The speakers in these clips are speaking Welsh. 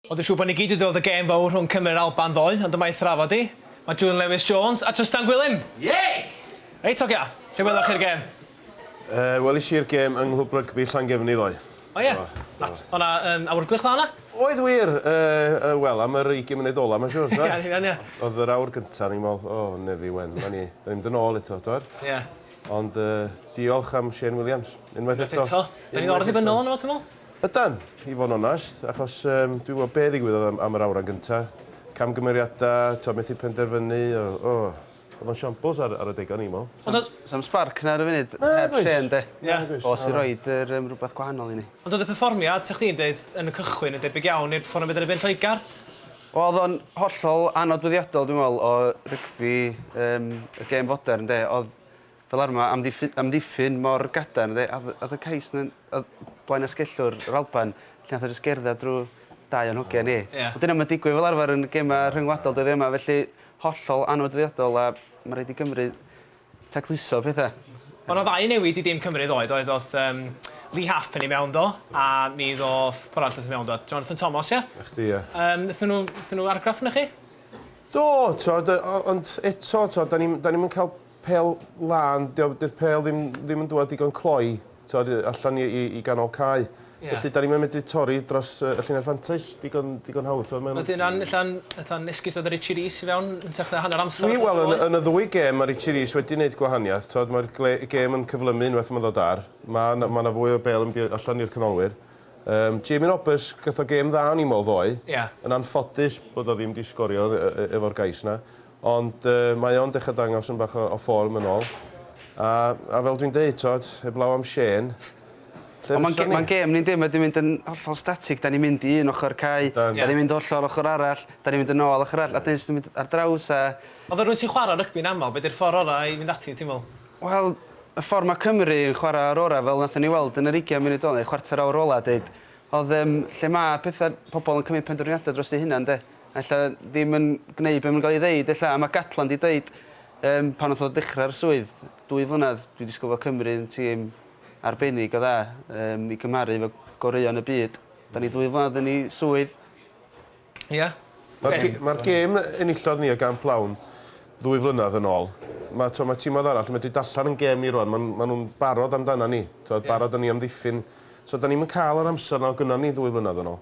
Ond dwi'n siŵr bod ni gyd wedi weld y gêm fawr rhwng Cymru a'r Alban ddoe, ond yma i thrafod hi, mae June Lewis Jones a Trystan Gwilym! Yay! Reit ogia, lle weloch chi'r gêm? Yy, welis i'r gêm yng Nghlwb Rygbi Llangefni ddoe. O ie? Do, do. O'dd 'na yym awyrgylch dda yna? Oedd wir! Yy, yy, wel, am yr ugian munud ola 'ma siŵr, t'wod? Ie, yn union, ie. O'dd yr awr gynta o'n i'n me'wl, O, nefi wen, 'ma ni, 'dan ni'n mynd yn ôl eto, t'wod? Ie. Ond yy, diolch am Shane Williams, unwaith eto. Unwaith eto. 'Dan ni'n ôl yn ddibynnol arno fo, ti'n me'wl? Ydan, i fod yn onest, achos yym dwi'n gwybod be ddigwyddodd am am yr awran gynta'. Camgymeriadau, t'o' methu penderfynu, o- o! O'dd o'n siampls ar ar adega o'n i'n me'wl. Ond o's... Sa'm sbarc 'na ar y funud. Na, oes. Heb Shane 'de? Ie. Nag oes. Os i roid yr yym rwbeth gwahanol i ni. Ond o'dd y perfformiad, sa chdi'n deud, yn y cychwyn yn debyg iawn i'r perfformiad yn y Byd Lloegr? Wel o'dd o'n hollol annodweddiadol dwi'n me'wl o rygbi yym y gêm fodern 'de? O'dd Fel arfer mae amddiffyn amddiffyn mor gadarn de a o'dd y cais 'na o'dd Blaen Asgellwr yr Alban lle nath e jyst gerdded drw dau o'n hogia ni. O ia? Wel dyna ma'n digwydd fel arfer yn gema rhyngwladol dyddie 'ma felly hollol anwdriadol a ma' raid i Gymru tacluso petha. O' 'na ddau newid i dîm Cymru ddoe doedd o'th yym Lee Halfpenny mewn do a mi ddoth pw' arall o'th mewn do? Jonathan Thomas ia? 'Na chdi ia. Yym nethon nw nethon nw argraff anoch chi? Do t'od yy o- ond eto t'od 'dan ni'm 'dan ni'm yn ca'l pêl lân, 'di o... 'di'r pêl ddim ddim yn dŵad digon cloi, t'od, yy allan i i i ganol cae. Ie. Felly 'dan ni'm yn medru torri dros yy y llinell fantais digon digon hawdd, t'mo' ma'n... Wedyn an- ella'n ella'n esgus dod â Richie Rees i fewn yn hytrach na hanner amser Dwi, wel, yn y yn y ddwy gêm ma' Richie Rees wedi neud gwahaniaeth, t'od, ma'r gle- gêm yn cyflymu unwaith ma'n ddod ar. Ma' 'na ma' 'na fwy o bêl yn mynd i allan i'r canolwyr. Yym Jamie Roberts gath o gêm dda o'n i'n me'wl ddoe. Ie. Yn anffodus bod o ddim 'di sgorio yy yy efo'r gais 'na. Ond mae o'n dechra dangos yn bach o form yn ol. A a fel dwi'n deud t'od heblaw am Shane lle fysa ni? Ond ma'n gêm ni'n di mae di mynd yn hollol static 'dan ni'n mynd i un ochor cae 'dan ni'n mynd hollol ochor arall 'dan ni'n mynd yn ôl ochor arall a 'dan ni jyst yn mynd ar draws a... Ond fel rywun sy'n chwara rygbi'n amal be 'di'r ffor ora i fynd ati ti'n me'wl? Wel y ffor ma Cymru yn chwara o'r ora fel nathon ni weld yn yr ugian munud ola neu chwarter awr ola deud odd yym lle ma petha pobol yn cymyd pendrwriade drost eu hunan 'de? Ella ddim yn gneud be ma'n ga'l 'i ddeud ella a ma' Gatland 'di deud yym pan nath o dechra'r swydd dwy flynadd dwi disgwl fo Cymru yn tîm arbennig o dda yym i cymharu efo goreuon y byd. 'Dan ni dwy flynadd yn 'i swydd. Ia. Ma'r ge- ma'r gêm yy enillodd ni y gamp lawn ddwy flynadd yn ôl ma' t'wo' ma' tîmodd arall yn medru darllan 'n gêm ni rŵan ma' n- ma' nw'n barod amdanan ni t'od barod a ni amddiffyn so 'dan ni'm yn ca'l yr amser 'na o' gynno ni ddwy flynadd yn ôl.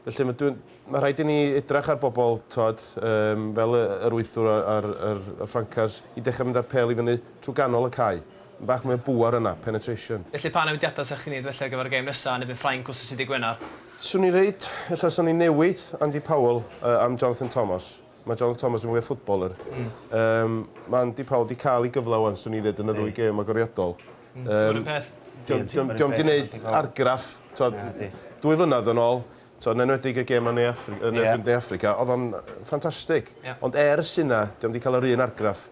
Felly mae dwi'n... Mae rhaid i ni edrych ar bobl, timod, yym, fel y- yr wythwr a- a'r, yr, y ffrancars, i dechrau mynd â'r pêl i fyny trwy ganol y cae. Mae bach mwy o bŵer yna, penetration. Felly pa newidiadau 'sech chdi'n neud felly ar gyfer y gêm nesa yn erbyn Ffrainc wsos y Dydd Gwener? Swn i'n reid, ella 'swn i'n newid Andy Powell yy am Jonathan Thomas. Mae Jonathan Thomas yn fwy o footballer. Yym, mae Andy Powell 'di cael ei gyfle ŵan, swn i'n ddeud, yn y ddwy gêm agoriadol. Dim ond un peth. Dwi 'di neud argraff t'od dwy flynadd yn ôl t'o' yn enwedig y gem yn Ne Affri- yn erbyn De Affrica o'dd o'n ffantastig. Ond ers hynna 'di o'm 'di ca'l yr un argraff.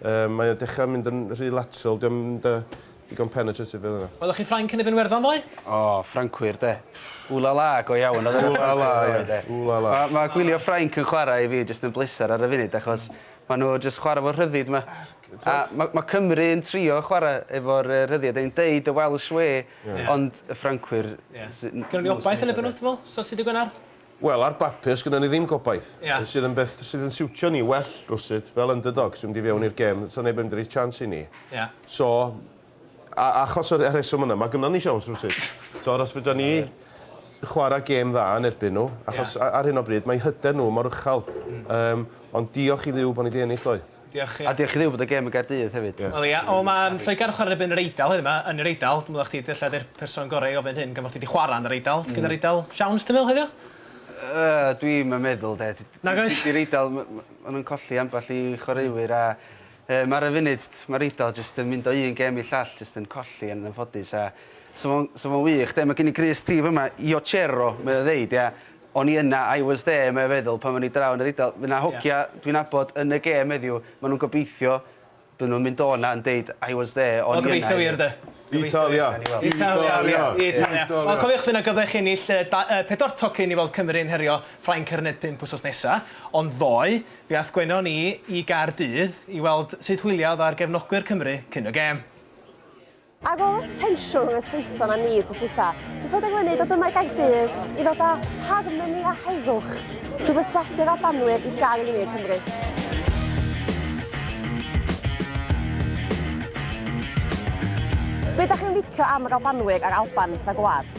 Yym mae o dechra mynd yn rhy lateral 'di o'm yn dy- digon penetrative fel yna. Welwch chi Ffrainc yn erbyn Werddon ddoe? O Ffrancwyr 'de. Ooh la la go iawn o'dd e. Ooh la la ie. Ooh la la. Ma' ma' gwylio Ffrainc yn chwara i fi jyst yn bleser ar y funud achos ma' n'w jyst chwara 'fo rhyddid ma'. A ma' ma' Cymru yn trio chwara' efo'r yy rhyddiad yn deud y Welsh way ond y Ffrancwyr sy- n- Gynnon ni obaith yn y Benwthn Wel, so sud yw Gwenar? Wel, ar bapur sgynnon ni ddim gobaith. Ia. Sydd yn beth sydd yn siwtio ni well rywsut fel underdogs i fynd i fewn i'r gem. 'Sa neb yn mynd i roi chance i ni. Ia. So, A achos y rheswm yna, mae gynnon ni siawns rywsut. T'mod, os fedran ni chwarae gêm dda yn erbyn nhw, achos ar hyn o bryd mae hyder nhw mor uchel. Yym, ond diolch i Dduw bod ni 'di ennill ddoe. Diolch ie. A diolch i Dduw bod y gêm yn Gaerdydd hefyd. Wel ia, o ma Lloegr yn chwarae yn erbyn yr Eidal heddiw 'ma, yn yr Eidal, dwi'n meddwl chdi ella 'di'r person gorau i ofyn hyn gan bo chdi 'di chwarae yn yr Eidal, sgyn yr Eidal siawns ti'n meddwl heddiw? Yy, dwi'm yn meddwl 'de. Nag oes? Dydi'r Eidal, ma' ma' nhw'n colli ambell i chwaraewyr a Yym ar y funud ma'r Eidal jyst yn mynd o un gem i'r llall jyst yn colli yn anffodus a sa fo'n sa fo'n wych de ma' gen i grys ti fyma Io c'ero mae o ddeud ia o'n i yna I was there mae o feddwl pan o'n i draw yn yr Eidal ma' 'na hogia dwi'n nabod yn y gem heddiw ma' nw'n gobeithio by' nw'n mynd o 'na yn deud I was there o'n i yna. Wel gobeithio wir de. Italia! Italia! Italia! Wel cofiwch fy' 'na gyfle i chi ennill yy da- yy pedwar tocyn i weld Cymru yn herio Ffrainc ar y Net pump wsos nesa ond ddoe Fe aeth Gwenno ni i Gaerdydd i weld sut hwyliodd ar gefnogwyr Cymru cyn y gêm. Ar ôl y tensiwn rhwng y Saeson a ni wsos dwytha, mi penderfynu dod yma i Gaerdydd i ddod â harmoni a heddwch drwy berswadio Albanwyr i gael yn wir Cymru. Be dach chi'n licio am yr Albanwyr a'r Alban fatha gwlad?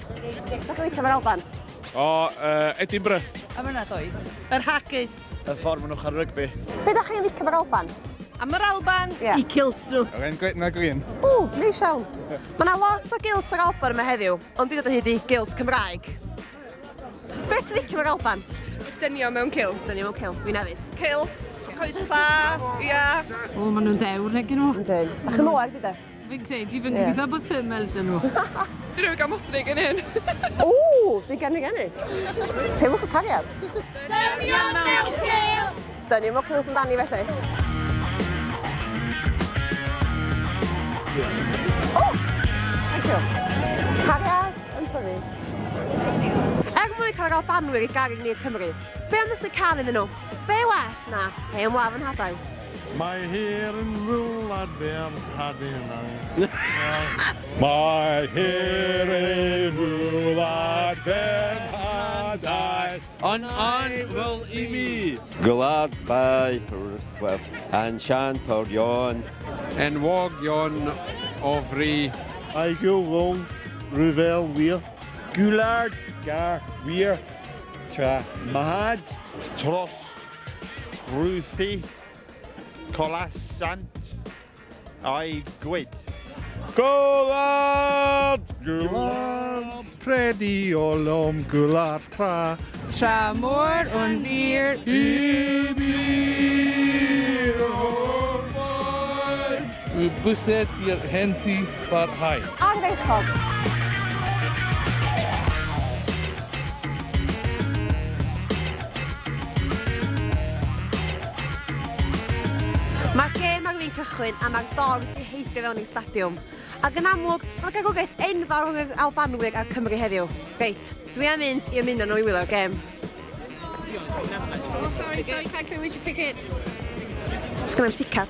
Sut chi'n licio Alban? O, uh, Edinburgh. Am yna does. Yr haggis. Y ffordd maen nhw'n cael rygbi. Be da chi'n licio Alban? Am yr Alban? Yeah. I kilt nhw. Yr ein gwyd na gwyn. O, neis iawn. Mae yna lot o gilt yr Alban yma heddiw, ond dwi'n dod o hyd i gilt Cymraeg. Be ti'n licio yr Alban? Dynio mewn kilt. Dynio mewn kilt, fi'n hefyd. Kilt, coesa, ia. O, maen nhw'n ddewr, egin nhw. Yndyn. A chymwag, di da? Fi'n credu, fi'n gobeithio bod thermals dyn nhw. Dyn nhw gael modrig yn hyn. O, fi gen i gennis. Teimwch y cariad. Dynion mewn cael! Dynion mewn cael sy'n dani felly. O! Thank you. Cariad yn tyfu. Er mwyn cael gael banwyr i garu ni i'r Cymru, be am ddysgu can iddyn nhw? Be well na hen wlaf yn hadail? Mae hir yn ful ar fer Tadinau. Mae hir yn ful ar fer Tadau. Yn ein ful i mi. Gwlad Bae Rhyfel. Yn siant o'r Ion. Enwog Ion o Fri. I Gywrol Rhyfel wir. Gwlad Gar wir. Tra Mahad. Tros Ruthi, colas sant a'i gwyd. Gwlad! Gwlad! Predi o lom gwlad tra. Tra mor o'n wir i mi o'r blaen. Y bysedd i'r hen si barhau. Ardderchog! Mae'r gêm ar fin cychwyn a mae'r dorf 'di heidio fewn i'r stadiwm. Ac yn amlwg, mae'r garwriaeth enfawr rhwng yr Albanwyr a'r Cymry heddiw. Reit, dwi am mynd i ymuno nhw i wylio'r gêm. Oh, sorry, sorry, can I come with your ticket? Sgynna i'm ticad.